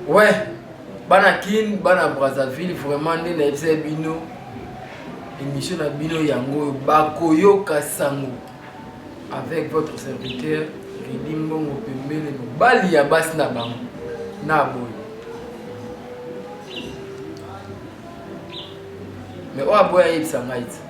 Ouais, bana Kin, bana Brazzaville, vraiment nde nayebisa bino émission na bino yango oyo bakoyoka sango avec votre serviteur Ridi Mbongo pembele mobali ya basi na bango na boye mais oyo aboya ayebisa ngai ti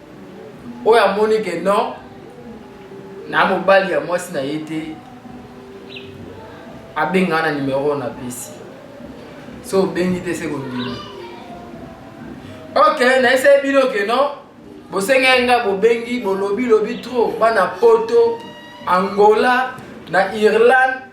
oyo amoni ke non na mobali ya mwasi na ye te abenga na nimero oyo napesi so obengi te se kondimi ok nayesai bino ke non bosengeli nga bobengi bolobi lobi trop bana poto angola na irlande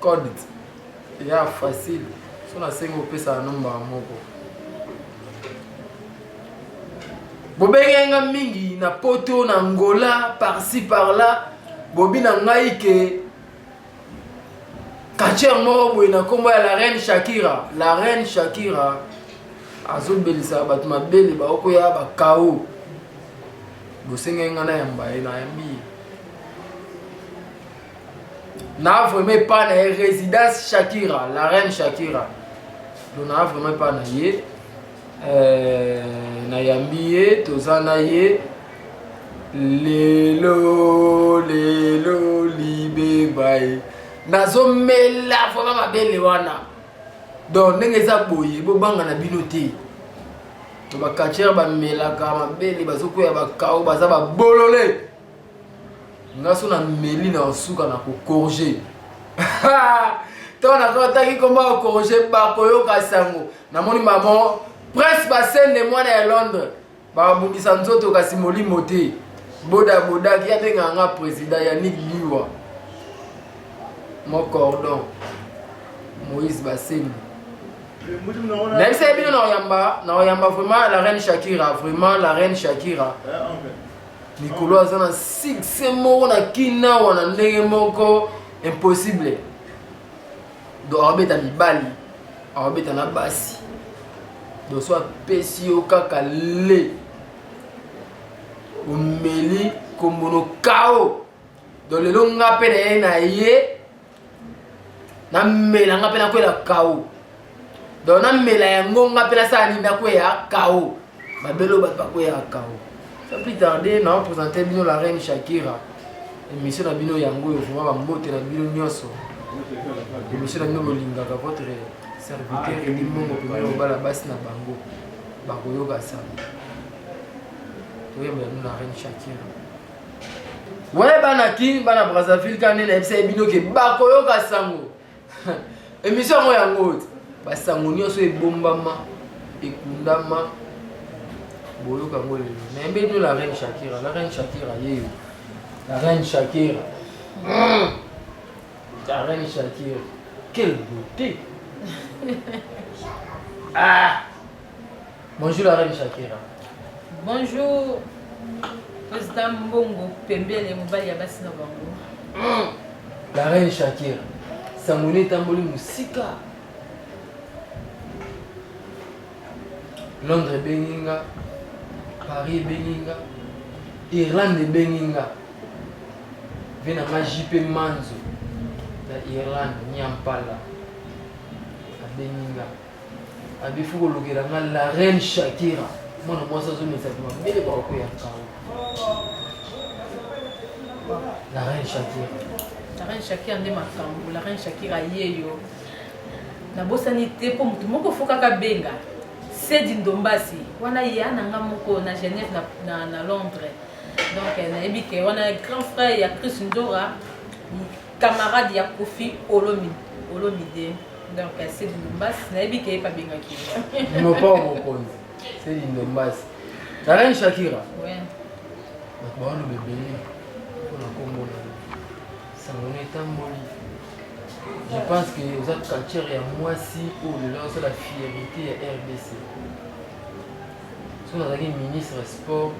code ya facile so nasengi opesaka no mbala moko bobengaki nga mingi na poto na ngola parci parla bobi na ngai ke katiere moko boye na nkombo ya la reine shakira la reine shakira azobelisa bato mabele baokoya bakao bosengaki ngai nayamba ye nayambi ye na vraiment epa na ye résidence shakira la reine shakira do na vraiment epa na ye euh, nayambi ye toza na ye lelo lelo libebaye nazomela vraiment mabele wana donc ndenge eza boye bobanga na bino te bakatiere bamelaka mabele bazokweya bakao baza babolole nga so na meli na osuka na kokorge ntango nakotaki nkombo ya korge bakoyoka sango namoni mamo prince basende mwana ya londres babundisa nzoto kasi molimo te bodabodaki abengaka nga président ya nik liwa mocordon moïse basende nayebisaki bino na oyamba na oyamba vraiment la reine shakira vraiment la reine shakira eh, likolo aza na succès moko na kina wana ndenge moko impossible donc akobeta mibali akobeta na basi donc so apesi yo kaka le omeli kombono kao donc lelo nga mpe na ye na ye namela nga mpe nakwela kao donc namela yango nga mpe nasala nini nakweya kao babelo bato bakweyaka kao sa plus tarde nao présente bino la reine shakira émission na bino yango oyo vraimen bambote na bino nyonso émission na bino bolingaka votre serviteur eli mongo mpe bayobala basi na bango bakoyoka sango toyembela bino la reine shakira Ouais bana kin bana Brazzaville ka nene ebisa ebino ke bakoyoka sango émission yango yango oyo basango nyonso ebombama ekundama boyoka yango lelo na yembe bino la reine shakira la reine shakira yeyo la reine shakira hmm. la reine shakira quelle beauté ah Bonjour la reine Shakira. Bonjour président Mbongo pembele mobali ya basi na bango. Hmm. La reine Shakira. Samone etamboli mosika. Londres ebengi nga, Paris ebengi nga, Irlande ebengi nga. Ve na nga JP Manzo na Irlande, Nyampala abengi nga. abifu kolukela nga la reine shakira mwana mwasi azomisa mabele baoko ya nkawa la reine shakira la reine shakira nde makambo la reine shakira yeyo nabosani te mpo motu moko fokaka benga sedi ndombasi wana ya na nga moko na genève na, na, na londres donc eh, nayebi ke wana grand frère ya chris ndora camarade ya kofi olomi olomide donc ya sedi lumbasi nayebi ke ye mpe abengaki nopa mokonzi sedi lumbasi zalani shakira bato baoloba ebele mpona nkombo na sango na etamboli je pense que oza culture ya mwasi oyo lelo azosala fierité ya rdc soki nazalaki ministre sport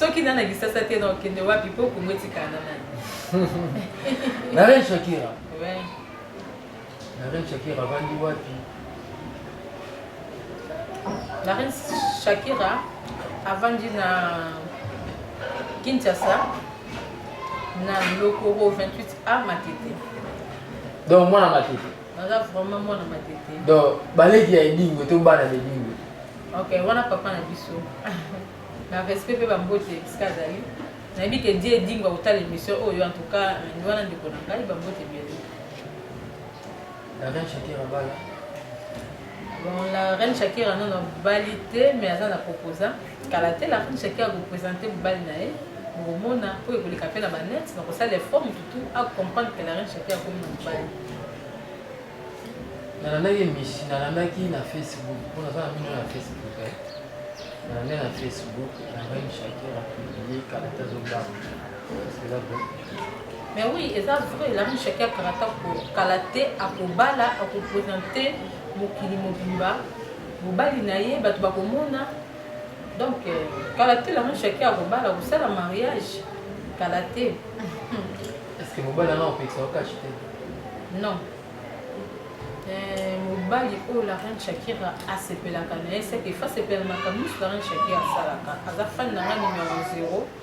soki na na lisasa te na okende wapi mpo kongo etikala na nani na ren shakira na ren shakira avandi wapi na ren shakira avandi na kinshasa na lokoro 28 a matete donc mwana matete Naza vraiment mwana matete. Donc baleki ya Edingwe to bana na Edingwe. Ok, wana papa na biso. na respect pe ba mbote bisika azali. Nayebi ke die Edingwe akotala émission oyo en tout cas ni wana ndeko na ngai ba mbote bien. Darin Shakira bala. Bon, la reine Shakira non abali te mais aza na proposa kala te la reine Shakira akopresente mobali na ye bokomona oyo ekoleka mpe na banet na kosala effort motu tu acomprendre que la reine Shakira akomi na mobali nalandaki mishi nalandaki na facebook mpo naza na mino na facebook eh. nalande na facebook la reine Shakira publie kala te azobanga Mais oui, eza vrai, la riche qui a karata ko kalate akobala akopresenter mokili mobimba mobali na ye bato bakomona donc euh, kala te lango chaki akobala kosala mariage kala te estce mobali wana opekisa okashi te non euh, mobali oyo la reine shakira asepelaka na ye seke fa sepela makambo nyonso la reine shakira asalaka aza fani na nga numero 0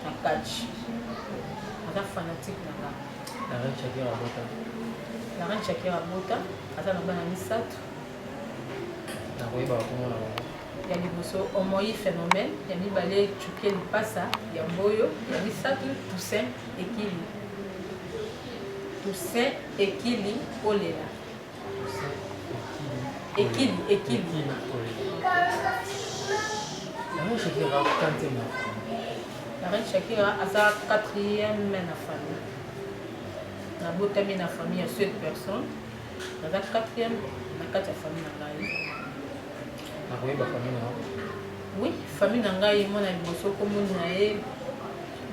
Nakachi. Aza fanatique na nga. La reine Shakira Bota. La reine Shakira Bota aza na bana misato. Nakoyeba bakomona bango. Ya liboso Omoyi Phénomène, ya mibale Chukie Lipasa, ya mboyo, ya misato Toussaint Ekili. Toussaint Ekili Olela. Ekili, ekili. Yango Shakira akante na La reine Shakira aza quatrième na famille. Nabotami na famille ya sept personnes. Naza quatrième na kati ya famille na ngai. Oui, famille na ngai mwana liboso kombo na ye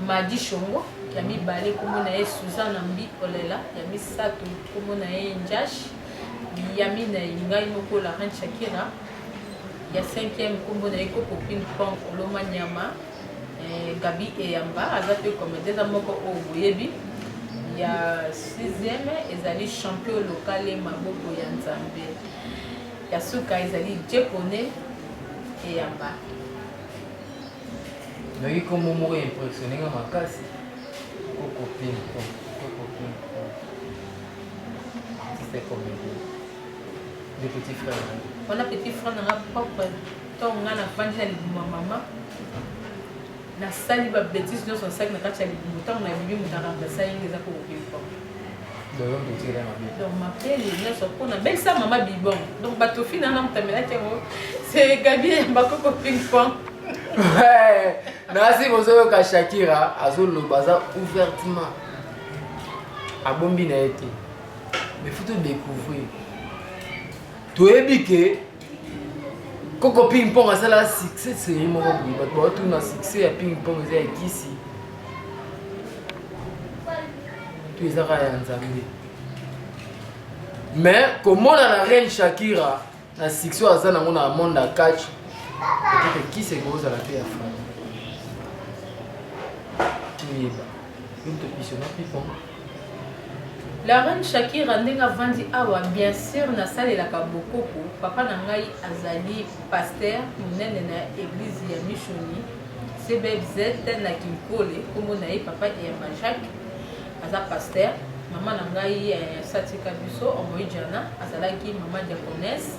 Madi Shongo, ya mibale kombo na ye Suzana Mbi Olela, ya misato kombo na ye Njash, ya minei ngai moko Laurent Shakira, ya cinquième kombo na ye Koko Ping Pong Oloma Nyama, eh, Gabi Eyamba aza pe comedien eza moko oyo boyebi. Ya sixième ezali champion lokale maboko ya Nzambe. Ya suka ezali Jepone eyamba. Nayoki nkombo moko ya impressione nga makasi koko pinko koko pinko artiste comedi de petit frère wana petit frère nanga propre to nga nafandi na libuma mama Na sali ba betise nionso na sali na kati ya libumu tango na bibi mutu a remplacer yenge eza ko oubli quoi. Donc on tire ma belle. Donc ma belle nionso po na belle sa mama bibon. Donc ba tofi na na mutamela te ngo. C'est Gabi ya bakoko ping pong. Ouais. Nasi bozo yoka Shakira azo loba za ouvertement. Abombi na ye te. Mais faut to découvrir. Toyebi que koko ping pong asala succès serie moko boye bato baotuna succès ya ping pong eza ya kisi to ezaka ya nzambe mais komona na reine shakira na succès oyo aza nango na monde ya catch ekeke kisi ekozala mpe ya fana toyeba yo tokisona ping pong La reine Shakira ndenge avandi awa bien sur nasalelaka bokoko papa na ngai azali pasteur monene na eglise ya Mishoni CBFZ na Kinkole kombo na ye papa Eyamba Jacques aza pasteur mama na ngai eh, satika biso omoijana azalaki mama diaconesse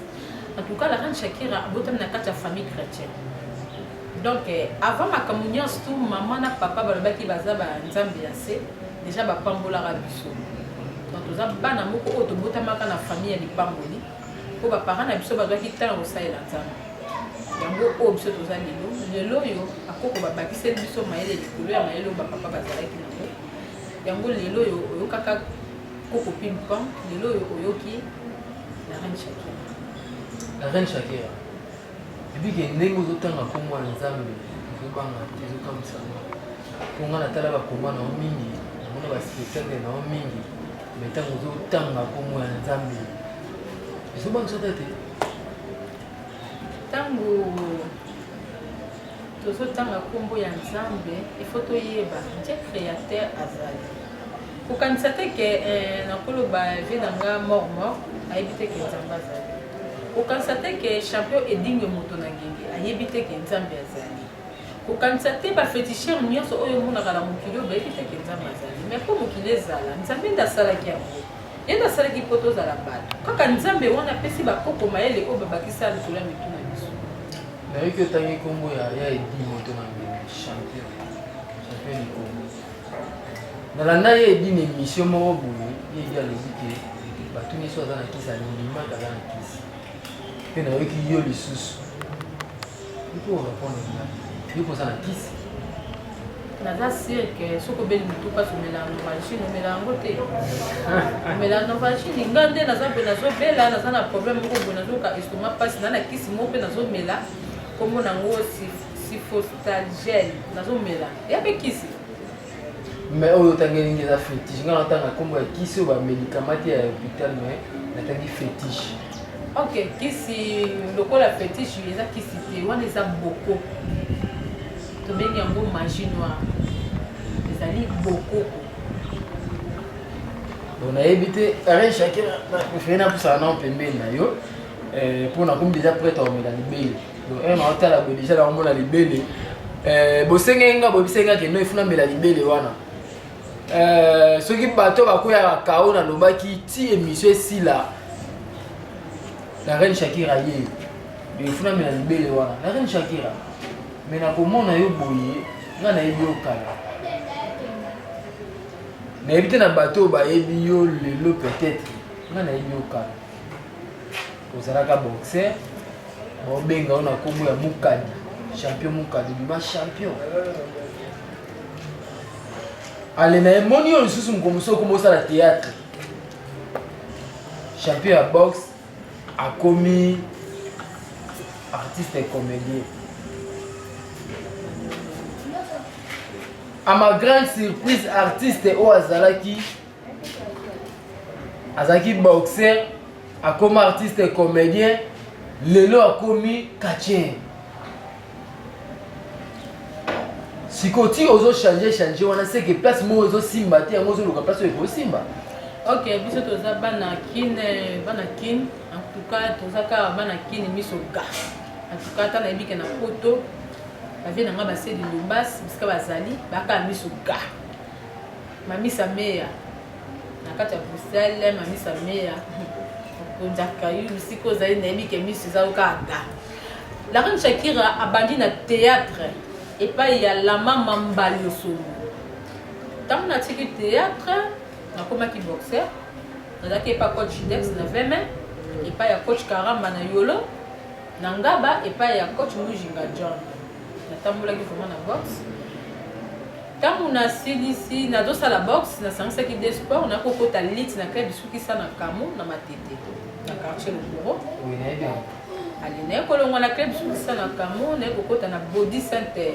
en tout cas la reine Shakira abotami na kati ya famille chrétienne Donc avant makambo nionso tout maman na papa balobaki baza ba nzambe ya se dejà ba pambolaka biso donc toza bana moko oyo tobotamaka na famille ya lipamboli mpo ba parents na biso bazwaki ntango ya kosalela nzambe yango oyo biso toza lelo lelo oyo akoko babakiseli biso mayele likolo ya mayele oyo bapapa bazalaki nango yango lelo oyo oyokaka koko pimpon lelo oyo oyoki la reine shakira la reine shakira Depuis que ndenge ozotanga nkombo ya Nzambe ezobanga te ezokamwisa nga mpo ngai natala bakomba na yo mingi namona baspectacle na yo mingi me ntango ozotanga nkombo ya Nzambe ezobangisa ta te ntango tozotanga nkombo ya Nzambe ifo toyeba nje créateur azali Kokanisa te ke eh, nakoloba vie na nga mort mort, ayebi te ke Nzambe azali. Kokanisa te ke champion Edingue moto na ngenge, ayebi te ke Nzambe azali. Kokanisa te ba fetisher nyonso oyo omonaka na mokili oyo bayebi te ke Nzambe azali. Mais mpo mokili ezala, Nzambe nde asalaki yango. Ye nde asalaki mpo tozala bato. Kaka Nzambe wana apesi bakoko mayele oyo babakisa likolo ya mitu na biso. Nayoki otangi kombo ya ya Edingue moto na ngenge, champion. Champion Likongo. nalanda ye edi na emission moko boye ye edi alobi ke bato nyonso aza na kisi alimaka aza na kisi mpe nayoki yo lisusu iko orepondre nga yo koza na kisi naza sire ke soki obeli motu mpasi omela novagine omela yango te omela novagine nga nde naza mpe nazobela naza na problème moko boye nazoyoka estoma mpasi na na kisi moko mpe nazomela nkombo nango sifostalgel nazomela ya mpe kisi mais oyo otangi elingi eza fétiche ngai natanga nkombo ya kisi oyo bamédicament te ya hôpital mais natangi fétiche ok kisi lokola fétiche eza kisi te wana eza boko tobengi yango magie noire ezali bokoko bon nayebi te arin chacun prefere napusaka nao pembeni na yo mpo eh, nakomi deja prête akomela libele Lorraine aotala boye deja naomona libele eh, bosengeli nga boyebisaki nga kendo efuna mbela libele wana eh, soki bato bakweyaka kao nalobaki ti emission esila la reine shakira ye efuna mbela libele wana la reine shakira me nakomona yo boye nga nayebi yo kala nayebi te na bato oyo bayebi yo lelo peut-être nga nayebi yo kala ozalaka boxer baobenga yo na nkombo ya mukadi champion mukadi bima champion ale na ye moni yo lisusu mokolo mosusu okomi osala théâtre champion ya boxe akomi artiste comédien à ma grande surprise artiste oyo azalaki azalaki boxer akoma artiste comédien lelo akomi katien sikoyo ti ozo change change wana seke place moko ezosimba te yango ozoluka place oyo ekosimba ok biso toza bana kin eh, bana kin en tout cas toza kaka bana kin miso ga en tout cas ata nayebi ke na poto bavie na ngai basedi lobas bisika bazali bakaka miso ga Mamisa Meya na kati ya Bruxelles, Mamisa Meya okonjaka yo mosika ozali nayebi ke miso eza yo kaka ga la reine Shakira abandi na théâtre epai ya la mama Mbaliosolo ntango natiki théâtre nakomaki boxeur nazalaki epai coach Jidex na veme epai ya coach Karamba na Yolo na Ngaba epai ya coach Mujinga John natambolaki vraiment na boxe Ntango nasilisi nazosala boxe, nasangisaki deux sports, na kokota lutte na club Sukisa na Kamo na Matete, na quartier Lokoro. Oui, nayebi yango. Allez, naye kolongwa na club Sukisa na Kamo, naye kokota na Body Center.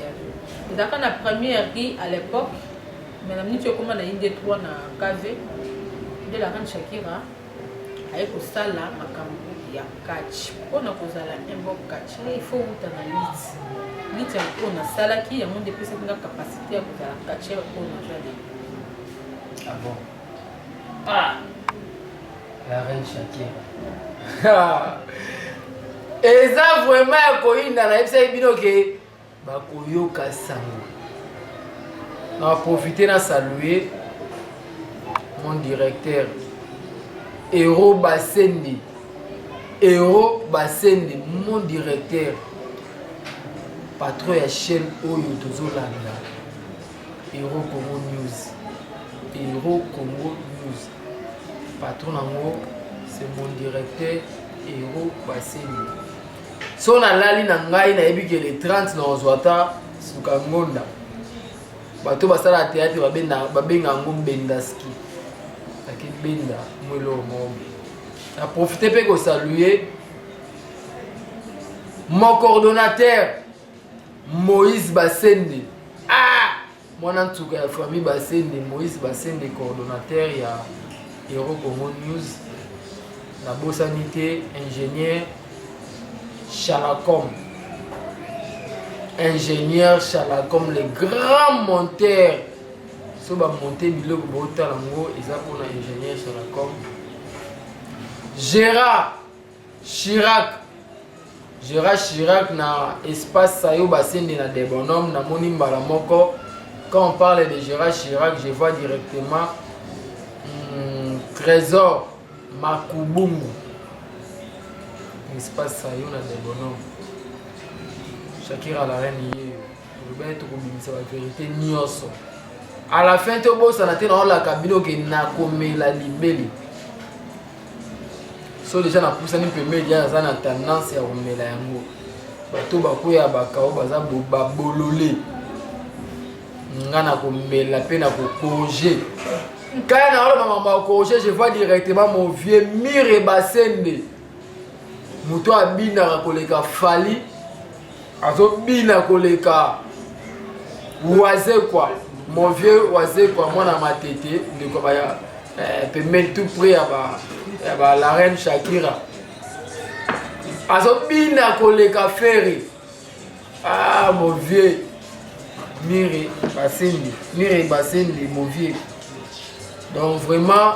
Ezalaka na première rue à l'époque, mais na minute ekoma na inde 3 na KV, de la reine Shakira. aye kosala makambo ya catch mpo na kozala imbob catch nga il faut wuta na lit lit ya oyo nasalaki yango nde epesaki nga capacité ya kozala catcheur oyo naza lelo ah bon ah la reine shakira eza vraiment ya koyinda nayebisaki bino ke bakoyoka sango na profite na salue mon directeur ero basende ero basende mon directeur patron ya chaîne oyo tozolanda ero congo news ero congo news patron yango c'est mon directeur ero basende so nalali na ngai nayebi ke le 30 na ozwa ata suka ngonda bato basala théâtre babenga yango mbendaski akibenda mwelo mombe na profite mpe kosalue mon coordonnateur moïse basende ah Mwana nsuka ya famille Basende, Moïse Basende, coordonnateur ya Euro Congo News. Nabosani te ingénieur Chalacom. Ingénieur Chalacom, le grand monteur. So ba monter biloko botala ngo eza mpona ingénieur Chalacom. Gérard Chirac Gérard Chirac na espace sayo basende na des bonhommes na moni mbala moko quand on parle de Gérard Chirac je vois directement hmm, Trésor Makubungu espace sayo na des bonhommes Shakira la reine yeyo olobaki tokobimisa ba vérité nyonso à la fin tobosana te naolaka bino ke nakomela libele so deja napusani mpembeni deja naza na tendance ya komela yango bato bakwea bakao baza babolole nga na komela mpe na kokorige nkaya na oloba mambo ya korige je vois directement mon vieux mire basende moto abinaka koleka fali azobina koleka wazekwa mon vieux wazekwa mwana matete ndeko baya eh, pembeni tout près ya ba ya ba la reine shakira azobina koleka feri ah mon vieux mire basindi mire basindi mon vieux donc vraiment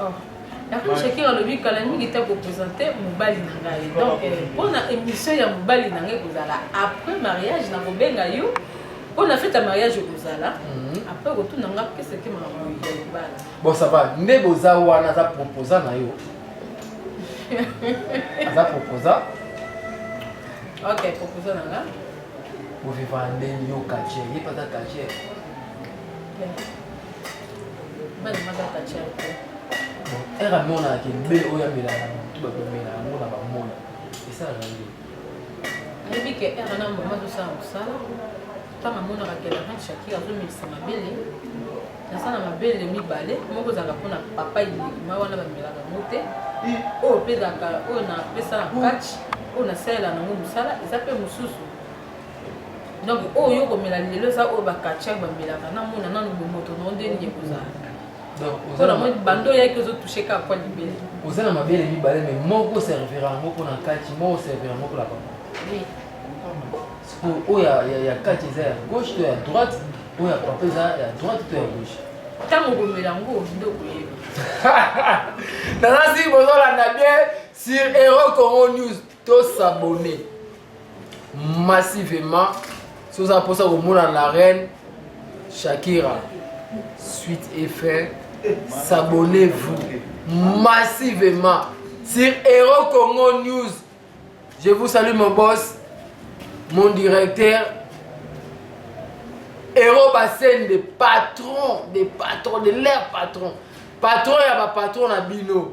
Oh. Lakini Shakira alobi kala mingi te kopresente mobali na ngai donc eh, mpo na émission ya mobali na ngai kozala après mariage nakobenga yo mpo na fete ya mariage okozala mhm. après kotuna nga keseke makambo ya libala bon ça va nde boza wana aza proposa na yo aza proposa ok proposa na nga boviva ndenge yo kache ye mpe aza kache ere amonaka ke mbe oyo amelaka motu bato bamela yango na bamona esalaka nde ayebi ke ere na mama azosala mosala ntango amonaka ke larin shakir azomelisa mabele naza na mabele mibale moko ezalaka mpona papa ilima wana bamelaka yango te oyo mpe ezalaka oyo napesaka catch oyo nasalela nango mosala eza mpe mosusu donc oyo yo komela lelo eza oyo bakatiak bamelaka namona nanu bomoto nao nde nini ekozala mpona moi bando oyaki ozotouche kaka kwa libele oza na mabele mibale mai moko servira yango mpona kati moko servira yango mpona papa sikoyo oyo ya kati eza ya gauche to ya droite oyo ya papa eza ya droite to ya gauche ntango okomela yango nde okoyeba nazasi bozolanda bien sur euro congo news To s'abonner massivement si oza mposa komona la reine Shakira suite et fin s'abonnez-vous massivement sur Hero Congo News je vous salue mon boss mon directeur Hero Bassène des patrons des patrons de leur patron patron ya bapatron na bino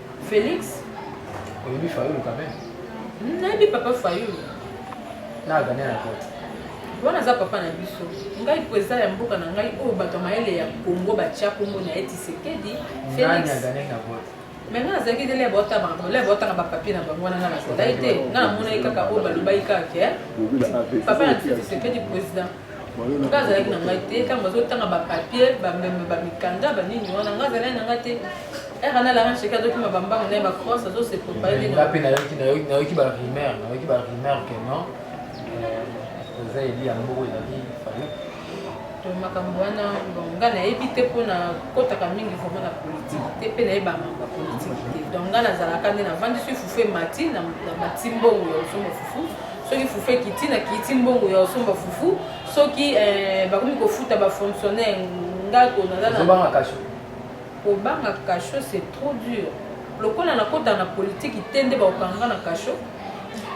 Felix. Oyebi Fayulu quand même? Hmm, nayebi papa Fayulu. Na Ghanais na kote. wana aza papa na biso ngai mpo eza ya mboka na ngai oyo bato ya mayele ya kongo batya kongo na ye tisekedi felix me ngai nazalaki ndele baotabakole baotanga bapapie na bango wana ngai nazalaki te ngai namonaki kaka oyo balobaki kaka ke papa na tisekedi président nga azalaki na ngai te ntango bazotanga bapapier bameme bamikanda banini wana nga azalaki na ngai te ere na laran cheke azokima bambango na ye bacross azosi propayongape nayoki barumeur nayoki barumeur ke non euh, eza eli ya mboko ezali falu to makambo wana bon nga nayebi te mpo na kotaka mingi vraimen na politike te mpe nayeba makambo ya politike te donc nga nazalaka nde navandisi fufu emati na batimbongo ya osomo fufu soki fufu ekiti na kiti mbongo ya osomba fufu soki eh, bakomi kofuta bafonctionnaire ndako nazobanga kasho kobanga kasho c'est trop dur lokola nakota na politiki te nde bakokanga na kasho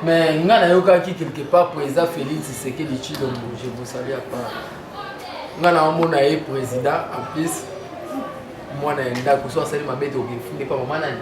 mais ngai nayokaki quelque part président félix tshisekedi tshilombo je vous salue apart ngai naomona ye président en plus mwana ya ndako so asali mabe te okefunde pa mama nani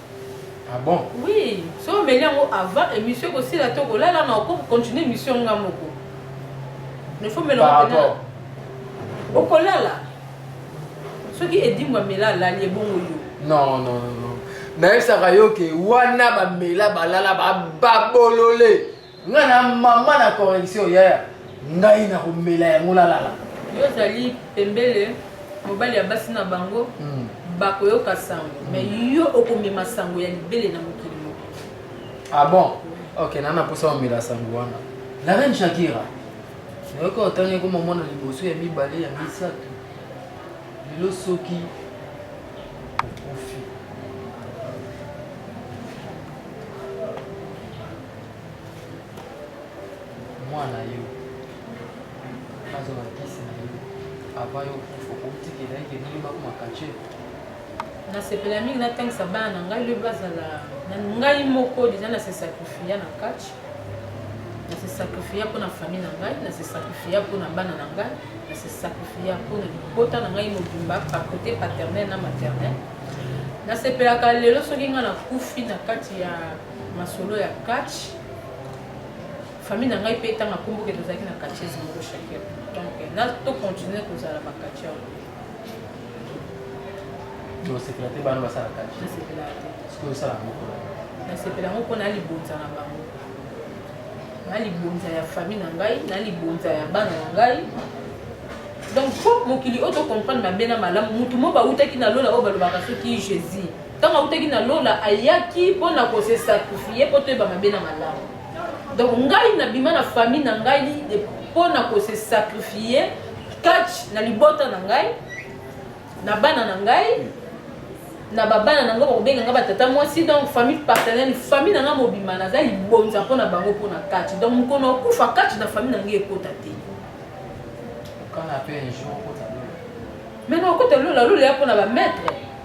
Ah bon? Oui, so omeli yango avant émission ekosila to kolala na oko continuer émission nga moko. Ne faut mela Par yango rapport. pena. Okolala. Soki edimbo amela alali ebongo yo. Non, non, non, non. nayebisaka yo ke wana bamela balala bababolole Nga na mama na correction yaya ngai na komela yango nalala. Yo ozali pembele mobali ya basi na bango mm. bakoyoka sango mm. mais yo okomema sango ya libele na mokili moko. Ah bon? Ok, nana posa omela sango wana. La reine Shakira. Nayoka otangi koma mwana liboso ya mibale ya misato. Lelo soki mwana yo bazwa bakisi na yo avant yo okufa okotikela ete ndenge bakoma kace nasepela mingi natangisa bana na ngai lobi bazala ngai moko deja na se sakrifia na kace na se sakrifia mpo na famille na ngai na se sakrifia mpo na bana na ngai na se sakrifia mpo na libota na ngai mobimba pakote paternel na maternel nasepelaka lelo soki ngai nakufi na kati ya masolo ya catch famille na ngai mpe ntango akomboke tozalaki na catchese moko chacun donc na to continuer kozala ba catcheur osepela te bana basala catch nasepela te soki osala moko nasepela yango mpo na libonza na bango na libonza ya famille na ngai na libonza ya bana na ngai donc mpo mokili oyo tocomprendre mabe na malamu motu mo bautaki na lola oyo balobaka soki jésus Ntango autaki na lola, ayaki mpo na kose sakrifie mpo toyeba mabe na malamu. Donc ngai nabima na famille na ngai mpo na kose sakrifie kati na libota na ngai na bana na ngai na babana na ngai bakobenga ngai batata mwasi donc famille partenelle famille na ngai mobima naza libonza mpo na bango mpo na kati donc mokolo okufa kati na famille na ngai ekota te maintenant okota lola lola ya mpo na bamaître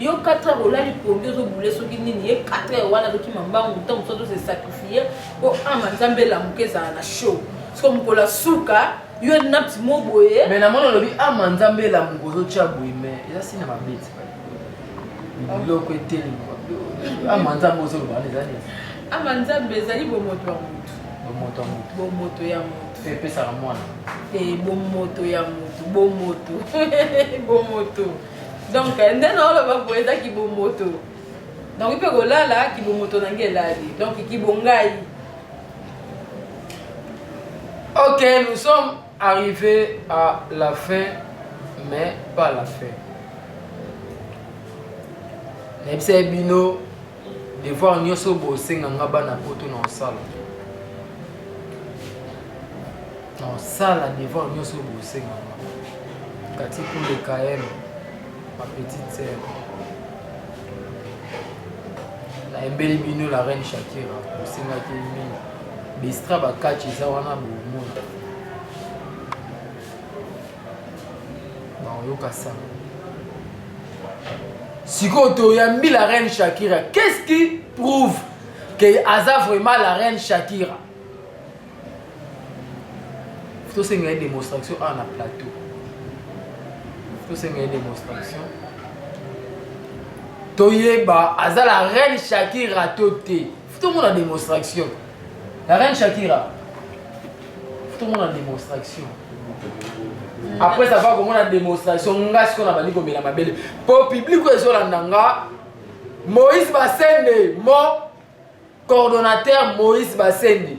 yo 4 heures olali pongi ozobule soki nini ye 4 heures wana azokima mbangu ntango mosusu azose sacrifie mpo ama nzambe elamuka ezala na show soko mokolo asuka yo napti mo boye me namoni olobi ama nzambe elamuka ozotya boye me eza si na mabeti biloko eteli ama nzambe ozoloba wana eza nini ama nzambe ezali bomoto ya motu bomoto ya motu bomoto ya motu epesaka mwana te bomoto ya motu bomoto bomoto donc nde naoloba boye eza kibomoto donc mpe kolala kibomoto nange elali donc kibongai ok nous sommes arrivés à la fin mais pas la fin nayebisa ye bino Devoir nioso oyo bosenga nga bana poto na osala. Na osala devoir nioso oyo bosenga nga. Kati pour le KM, ma petite sœur. Na embeli bino la reine Shakira, bosengaki mingi. Bestra bakati eza wana bomona. bakoyoka sango sikoyo toyambi la reine shakira qu'est ce qui prouve que aza vraiment la reine shakira tosenga ye démonstration awa na plateau tosenga ye démonstration toyeba aza la reine shakira to te Futo mona demonstration. La reine Shakira. Futo mona demonstration. Après ça va komona demonstration nga siko na bandi komela mabele. Po public oyo ezolanda nga Moïse Basende mo coordonnateur Moïse Basende.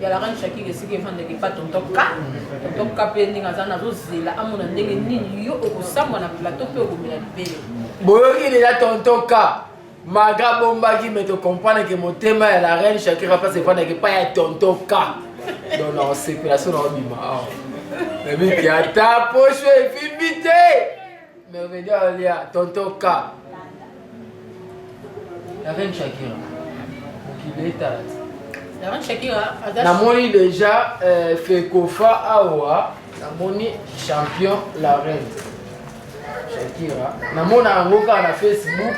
ya la reine shakira esika efandaki pa tontoka tontoka mpe ndenge aza nazozela amona ndenge nini yo okosambwa na plateau mpe okomela libele boyoki deja tontoka maga abombaki me tocomprendre ke motema ya la reine shakira place efandaki pa ya tontoka donc na osepela so na obima awa nabiki ata posho efimbi te Merveilleux alia tonton K. La reine Shakira. Mokili etala. La reine Shakira aza Namoni déjà euh, Fekofa awa, namoni champion la reine. Shakira. Namona yango kaka na Facebook.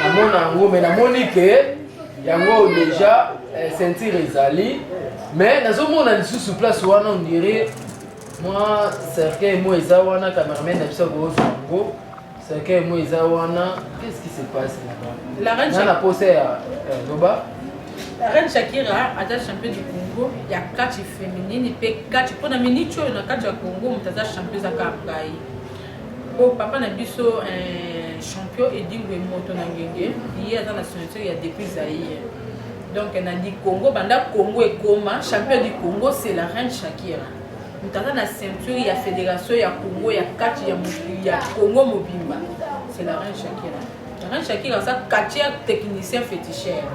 Namona yango mais namoni que yango déjà euh, ceinture ezali mais nazomona lisusu place wana on dirait mwa cercueil mo eza wana cameraman na biso akozwa yango cercueil mo eza wana qu'est ce qui se passe là-bas na posa ya eh, loba la reine shakira aza champion du congo ya kati féminine mpe kati mpo na miniti oyo na kati ya congo moto aza champion ezaka ngai Bon papa na biso eh, champion Edingwe moto na ngenge ye aza na signature ya depuis Zaïre donc na di Congo banda Congo ekoma champion du Congo c'est la reine Shakira moto aza na ceinture ya fédération ya Congo ya kati ya, ya Congo mobimba c'est la reine Shakira la reine Shakira aza quartier technicien féticheur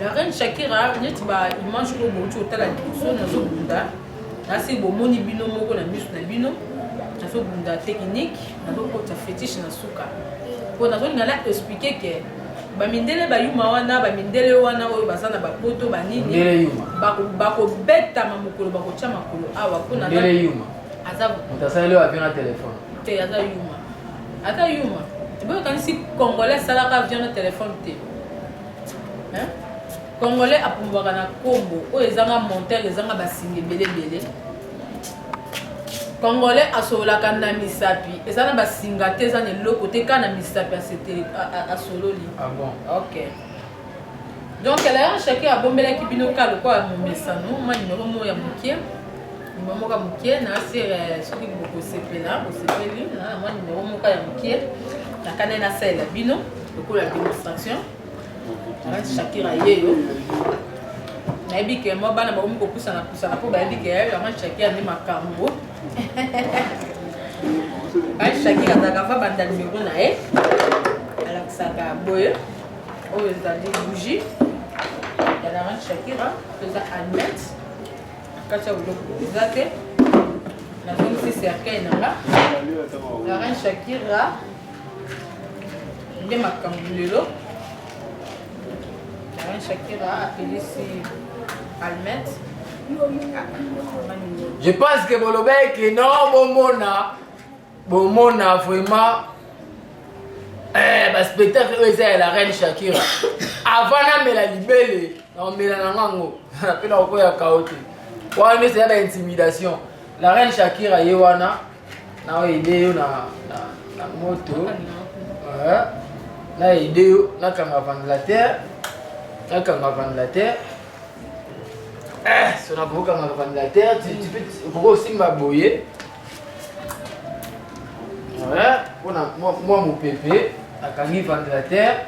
la reine Shakira neti ba image oyo bouti otala liboso nazobunda Kasi bomoni bino moko na misu na bino nazobunda technique nazokota fetiche na suka mpo nazolinga na explike ke bamindele bayuma wana bamindele wana oyo baza na bapoto banini bakobetama mokolo bakotya makolo awa mpo azaasali oyo avio na telefone te aza yuma aza yuma boyokanisi congolais asalaka avion na telefone te Congolais apumbwaka na kombo oyo ezanga monteur ezanga basinga ebele ebele. Congolais asololaka na misapi eza na basinga te eza na eloko te kaka na misapi asetele asololi. Ah bon? Okay. donc elaya chacun abombelaki bino ka lokola momesano ma nimero moko ya moke nimero moko ya moke na sere eh, soki bokosepela bosepeli na mwa nimero moko ya moke nakani nasalela bino lokola demonstration Arrête Shakira yeyo. Nayebi ke mwa bana bakomi kopusana pusana mpo bayebi ke vraiment Shakira nde makambo. Arrête Shakira azalaka fa banda numero na ye alakisaka boye oyo ezali bougie ya la reine Shakira toza admete kati ya biloko eza te nazongisi cercueil na nga la reine Shakira nde makambo lelo Alain Shakira apelisi Almet je pense que bolobaki que non bomona bomona vraiment eh, baspectacle oyo eza ya la reine Shakira avant namela libele naomela na nga yango mpe nakokoya kao te wana nyonso ya baintimidation la reine Shakira ye wana Na aide yo na na na moto. Euh, na aide yo na kanga ventilateur. Na kanga ventilateur. Eh, so na boka na ventilateur, tu tu peux boko simba boye. Ouais, pour na moi moi mon pépé, na kangi ventilateur.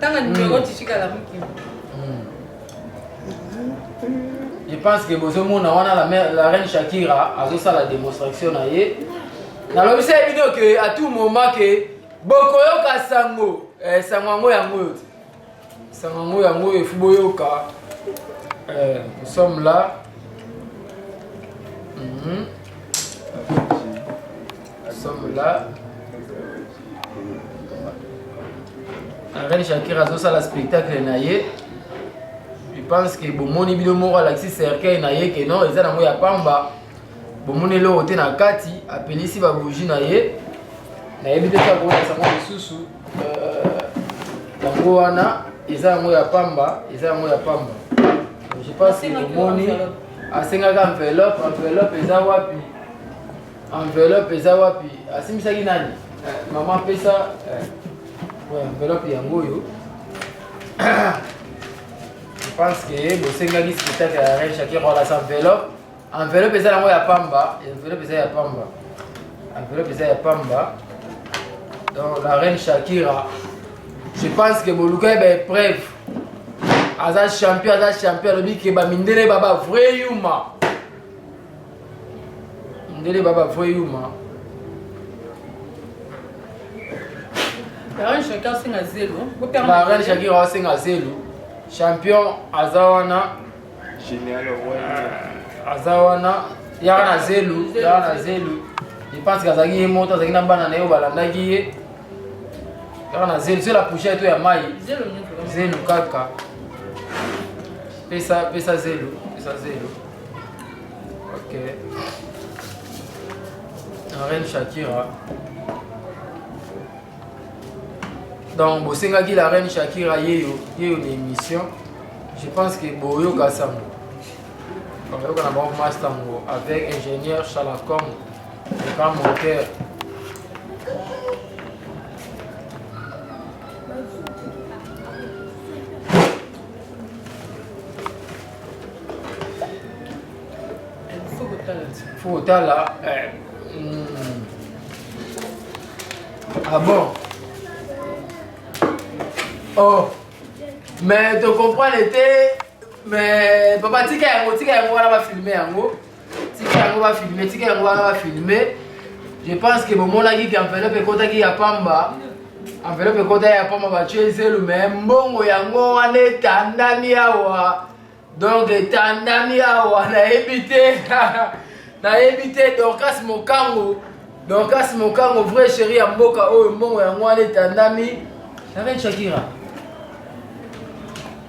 tanga numero titikala muki je pense que bozomona wana la, mère, la reine shakira azosala démonstration na ye nalobisa ye bino ke à tout moment ke bokoyoka sango eh, sango yango yango oyo sango yango yango oyo efu boyoka eh, nous sommes là mm -hmm. Nous sommes là. Reine Shakira azosala spectacle na ye je pense que bomoni bino moko alakisi cercueil na ye ke non eza nango ya pamba bomoni eloko te na kati apelisi babougie na ye nayebi te ta koyesa yango lisusu euh, yango wana eza yango ya pamba eza yango ya pamba je pense que bomoni asengaka enveloppe enveloppe eza wapi Enveloppe eza wapi? Asimbisaki nani? Eh, mama pesa eh, enveloppe yango oyo. Je pense que bosengaki spectacle ya Reine Shakira wala sa enveloppe. Enveloppe eza yango ya pamba, enveloppe eza ya pamba. Enveloppe eza ya pamba. Donc la Reine Shakira, je pense que boluka ba épreuve. Aza champion, aza champion, alobi ke ba mindele ba ba vrai yuma. ndele baba voye yuma barane shaki asenga zelo barane shaki asenga zelo champion aza wana aza wana yaka na zelu yaka na zelu epansi azalaki ye moto azalaki na bana na ye balandaki ye kaka na zelu soki lapouchai to ya mai zelu kaka pesa pesa zelu pesa zelu Ok. La reine Shakira. Donc, bosengaki la reine Shakira yeyo yeyo na émission. Je pense que boyoka sango. Boyoka na bango master ngo avec ingénieur Shalacom, le grand monteur. faut kotala eh, hmm. ah bon oh mais tocomprendre te mais papa tika yango tika yango wana bafilme yango tika yango ba filme tika yango wana ba filme je pense que bomonaki ke enveloppe ekotaki ya pamba enveloppe ekotaki ya pamba batye zelu me mbongo yango wana etandami awa donc etandami awa nayebi te nayebi te dorcas mokango dorcas mokango vrai chéri ya mboka oyo mbongo yango wana etandami na reine shakira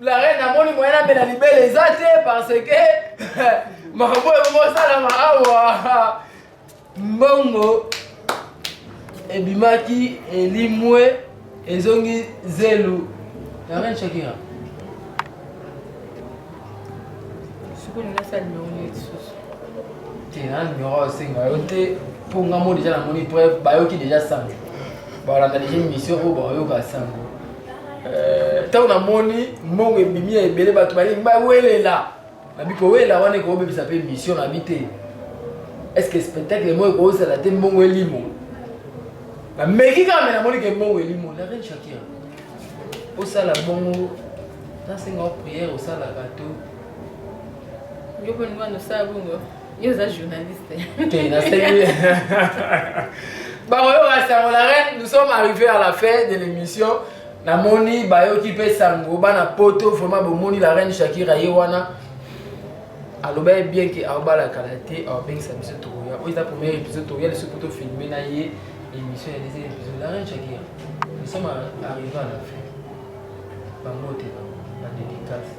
la reine namoni moyen amela libele eza te parce que makambo ebongo osalama awa mbongo ebimaki elimwe ezongi zelu la reine shakira sikoyo nini asali nango nini lisusu te nani nyora osenga yo te mpo nga mo deja namoni preuve bayoki deja sango balanda deja émission oyo bayoka sango ntango euh, namoni mbongo ebimi ya ebele bato balingi bawelela nabi kowela wana ekobebisa mpe émission nabi te est ce que spectacle moko ekozala te mbongo elimo nameki kaka me namoni ke mbongo elimo la reine shakira osala bongo nasenga o priere osalaka to yo mpe olingi wana osala bongo yo oza journaliste te nasengi bango yo basango la reine nous sommes arrivés à la fin de l'émission namoni bayoki mpe sango bana poto vraiment bomoni la reine shakira ye wana aloba ye bien ke aobala kala te aobengisa biso tokoya oyo eza premier épisode tokoya liso mpo tofilme na ye émission ya deuxième épisode la reine chakia nous sommes arrivé à la fin bambote badédicace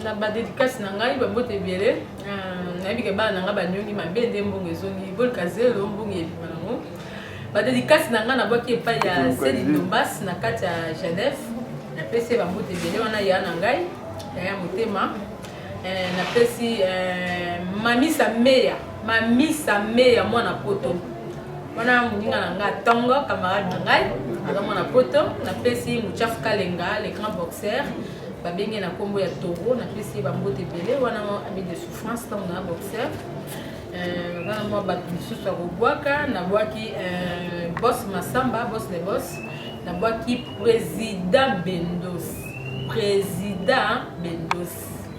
na badédicace na ngai bambote ebele euh, nayebi ke bana na ngai banyongi mabe nde mbongo ezongi bolka zelo mbongo ebima nango badédicace na ngai nabwaki epai ya seli dombas na kati ya genève napesi ye bambote ebele wana ya na ngai Yaya motema eh, napesi eh, mamisa meya mamisa meya mwana poto wana moninga na ngai atongo camarade na ngai aza mwana poto napesi muchafu kalenga le grand boxeur babenge na nkombo ya toro napesi ye bambote ebele wana ami de souffrance ntango na boxeur Euh, wana mwa bato mosusu ya kobwaka nabwaki euh, bos masamba bos le bos nabwaki président bendos président bendos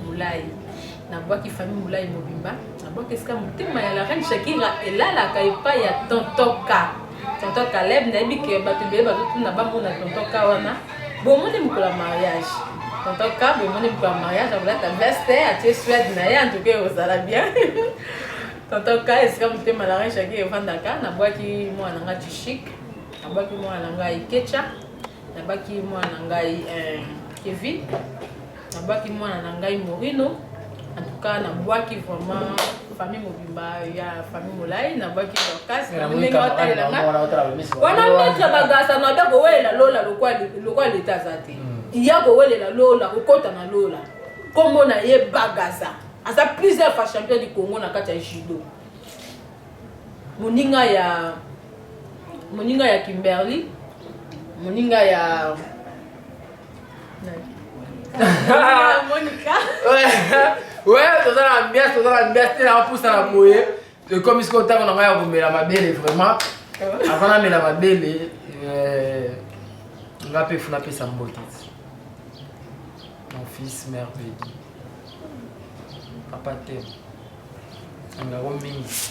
molai nabwaki famille molai mobimba nabwaki esika motema ya la reine shakira elalaka epai ya tontoka Tonton Caleb nayebi que bato ebele bazotuna bamona tonton ka wana bomoni mokolo ya mariage tonton ka bomoni mokolo ya mariage akolata veste atie swede na ye antuka ekozala bien tonton ka esika motema na range yaki evandaka nabwaki mwana nga tishik nabwaki mwana na ngai kecha nabaki mwana na ngai eh, kevin nabwaki mwana na ngai morino en tout cas nabwaki vraiment famille mobimba ya famille molai nabwaki dorcas ndenge otalela nga wana metre bagasa na be kowelela lola lokwa leta aza te hmm. ya kowelela lola kokota na lola nkombo na ye bagasa aza plusieurs fois champion du congo na kati ya judo moninga ya moninga ya kimberly moninga ya toza na ambiance toza na ambiance te nanga pusa na boye ekomi sikoyo ntango na ngai ya komela mabele vraiment avant namela mabele eh, nga mpe funa apesa mbote mon fils mère bedi papa te angako mingi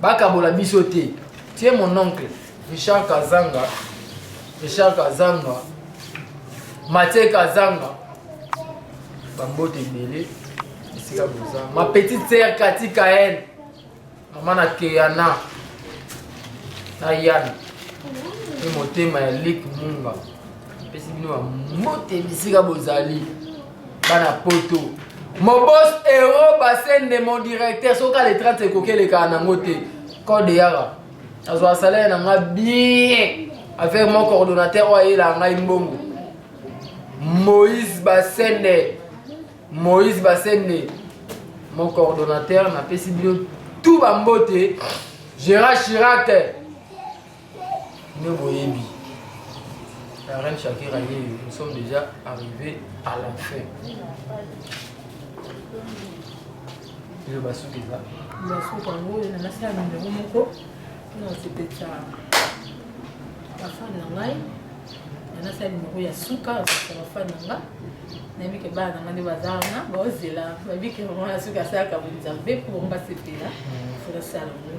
bakabola biso te tie mon oncle richard kazanga richard kazanga matie kazanga bambote ebele esika boza ma petite sere kati kael mama na keana na yana mpe motema ya lik munga epesi bino bambote bisika bozali bana poto mobos euro basende mon directeur soki ale 30 ekoki elekaka nango te code yaka azwa salaire na nga bien avec mon coordonnateur oyo ayela ngai mbongo moïse basende moïse basende mon coordonnateur napesi bino tout bambote gérard chirac nde boyebi la reine shakira yeyo nous sommes déjà arrivé à la fin eyo basuki eza basuki yango nanasala numero moko mpona kosepetsa bafani na ngai nanasala numero ya suka kosepetsa bafani na ngai nayebi ke bana na ngai nde baza wana baozela bayebi ke mama ya suki asalaka bonzambe mpo bango basepela fona sala yango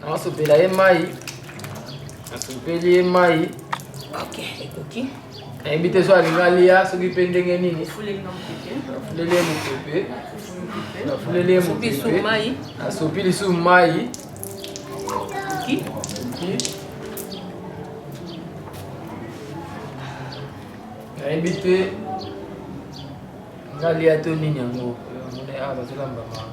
Nasopela ye mai, nasopeli ye mai. Ok, ekoki. Nayebi te so alinga lia soki mpe ndenge nini. Nafuleli ye mopepe. Nafuleli ye mopepe. Nasopi lisusu mai. Ekoki. Nayebi te ngalia to nini yango. Mona awa bazolamba mama.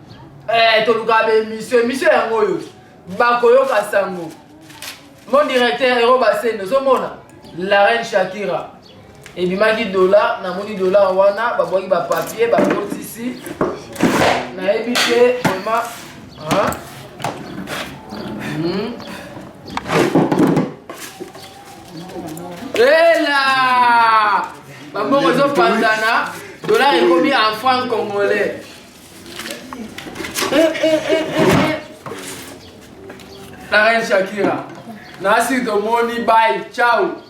Eh, toluka ba emission emission yango oyo bakoyoka sango mon directeur ero basene ozomona la reine shakira ebimaki dola namoni dola wana babwaki bapapier bakotisi nayebi te vraimen hmm. ela babongo ezopanzana dolar ekomi en franc congolais La reine Shakira. Nasi domoni bye. Ciao.